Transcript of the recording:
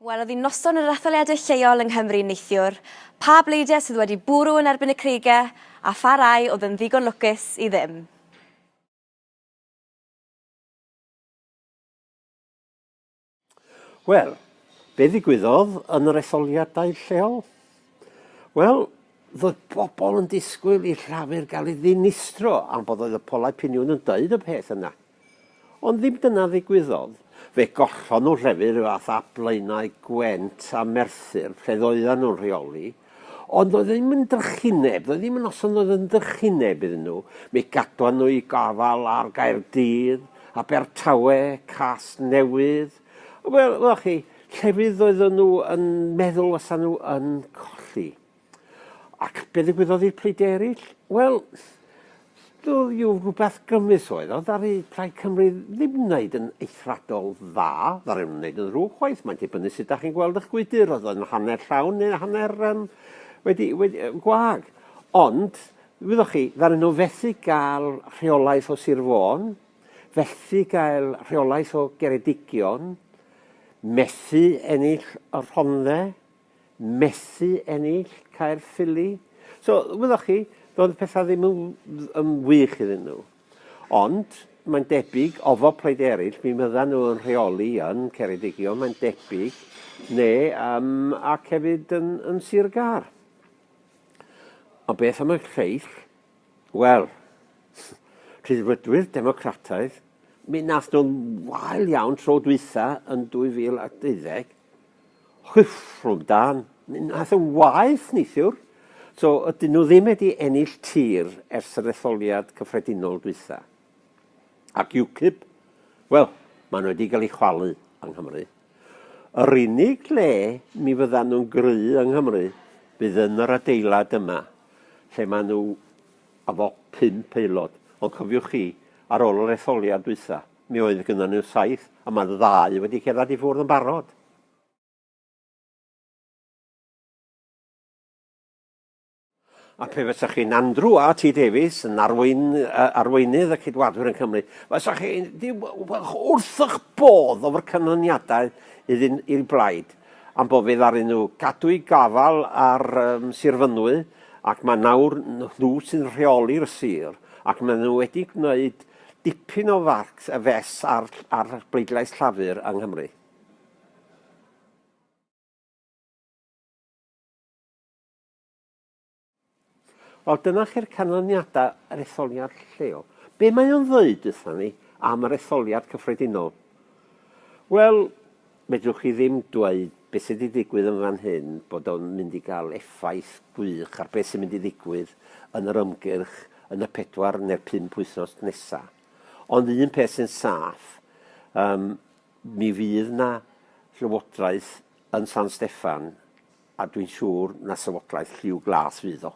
Welodd hi noson yr etholiadau lleol yng Nghymru neithiwr, pa bleidiau sydd wedi bwrw yn erbyn y creigiau a pha rai oedd yn ddigon lwcus i ddim. Wel, be ddigwyddodd yn yr etholiadau lleol? Wel, roedd pobl yn disgwyl i Llafur gael ei ddinistro am bod oedd y polau piniwn yn dweud y peth yna. Ond ddim dyna ddigwyddodd. Fe gollon nhw Llafur fath a Blaenau Gwent a Merthyr lle ddoedden nhw'n rheoli, Ond doedd e ddim yn drychineb, doedd ddim yn noson oedd yn drychineb iddyn nhw. Mi gadwan nhw i gafal ar Gaerdydd, Abertawe, Cas Newydd. Wel, wel chi, llefydd doedden nhw yn meddwl fysa nhw yn colli. Ac be ddigwyddodd i'r pleidie eraill? Wel, Studio rhywbeth grymus oedd o, ddaru Plaid Cymru ddim wneud yn eithriadol dda, ddaru nhw wneud yn ddrwg chwaith, mae'n dibynnu sut dach chi'n gweld eich gwydr, oedd o'n hanner llawn neu hanner um, wedi, wedi, gwag. Ond, wyddoch chi, ddaru nhw fethu gael rheolaeth o Sir Fôn, fethu gael rheolaeth o Geredigion, methu ennill y Rhondde, methu ennill Caerffili. So, wyddoch chi, doedd y pethau ddim yn, yn wych iddyn nhw. Ond, mae'n debyg, ofo plaid eraill, mi fyddan nhw yn rheoli yn Ceredigion, mae'n debyg, neu um, ac hefyd yn, yn Sir Gar. Ond beth am y lleill? Wel, rhyddfrydwyr democrataidd, mi nath nhw'n wael iawn tro dwytha yn 2012, Rhyfrwng da, nath e waeth neithiwr. So ydyn nhw ddim wedi ennill tir ers yr etholiad cyffredinol dwytha. Ac UKIP? Wel, maen nhw wedi cael ei chwalu yng Nghymru. Yr unig le mi fyddan nhw'n gry yng Nghymru bydd yn yr adeilad yma, lle maen nhw efo pump aelod. Ond cofiwch chi, ar ôl yr etholiad dwytha, Mi oedd gynnon ni'r saith, ond mae'r ddau wedi cerdded i ffwrdd yn barod. A pe fysa chi'n Andrew a T Davies yn arwyn, uh, arweinydd y cydwadwyr yn Cymru, fysa chi wrthych bodd o'r canlyniadau iddyn i'r blaid, am bod fe ddaru nhw gadw i gafal ar um, Sir Fynwy, ac mae nawr nhw sy'n rheoli'r sir, ac maen nhw wedi gwneud Dipyn o farc a fes ar ar bleidlais Llafur yng Nghymru. Wel, dyna chi'r canlyniadau yr etholiad lleol. Be mae o'n ddweud wrthyn ni am yr etholiad cyffredinol? Wel, Medrwch chi ddim dweud beth sydd wedi digwydd yn fan hyn bod o'n mynd i gael effaith gwych ar beth sy'n mynd i ddigwydd yn yr ymgyrch yn y pedwar neu'r pump wythnos nesaf. Ond un peth sy'n saff, um, mi fydd na llywodraeth yn San Steffan a dwi'n siŵr na llywodraeth lliw glas fydd o.